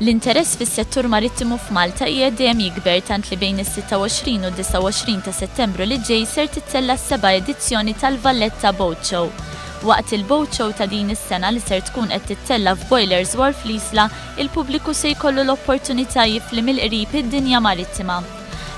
L-interess fis-settur marittimu f'Malta qiegħed dejjem jikber tant li bejn is-26 u d-29 ta' Settembru li ġej ser tittella' s-seba' edizzjoni tal-Valletta Boat Show. Waqt il-Boat Show ta' din is-sena li ser tkun qed tittella' f'Boilers Wharf l-Isla, il-pubbliku se jkollu l-opportunità jifli mill-qrib id-dinja marittima.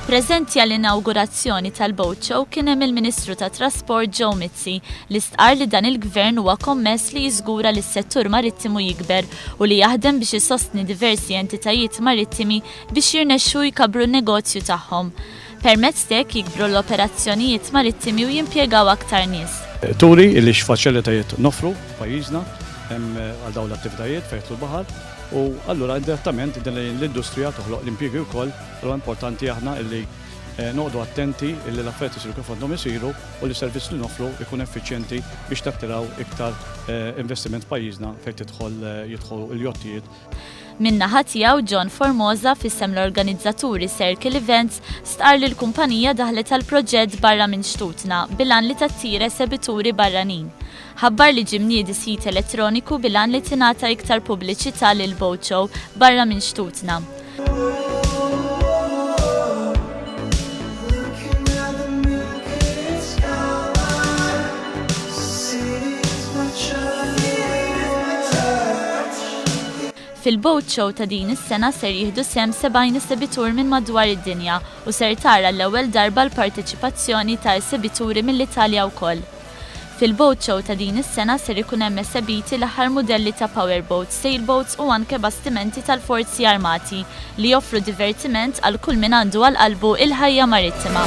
Preżenti għall-inawgurazzjoni tal-Boat Show kien hemm il-Ministru tat-Trasport Joe Mizzi li stqarr li dan il-Gvern huwa kommess li jiżgura li s-settur marittimu jikber u li jaħdem biex isostni diversi entitajiet marittimi biex jirnexxu jkabbru n-negozju tagħhom. Permezz t'hekk jikbru l-operazzjonijiet marittimi u jimpjegaw aktar nies. Turi li x'faċilitajiet noffru f'pajjiżna għal dawn l-attivitajiet fejn jidħlu l-baħar u allura indirettament din l-industrija toħloq l-impjiegi wkoll. Allura importanti aħna li noqogħdu attenti li l-affarijiet isiru kif għandhom isiru. u li s-servizz li noffru jkun effiċjenti biex tattiraw iktar investiment f'pajjiżna fejn tidħol jidħolu l-jottijiet. Min-naħa tiegħu, John Formosa, f'isem l-organizzaturi Circle Events, stqarr li l-kumpanija daħlet għall-proġett barra minn xtutna bil-għan li tattira esebituri barranin. ħabbar li ġie mniedi sit elettroniku bil-għan li tingħata iktar pubbliċità lil Boat Show barra minn xtutna. Fil-Boat Show ta' din is-sena ser jieħdu sehem 70 esebitur minn madwar id-dinja u ser tara għall-ewwel darba l-parteċipazzjoni ta' esebituri mill-Italja wkoll. Fil-Boat Show ta' din is-sena ser ikun hemm esebiti l-aħħar mudelli ta' power boats, sail boats u anke bastimenti tal-Forzi Armati li joffru divertiment għal kull min għandu għal qalbu l-ħajja marittima.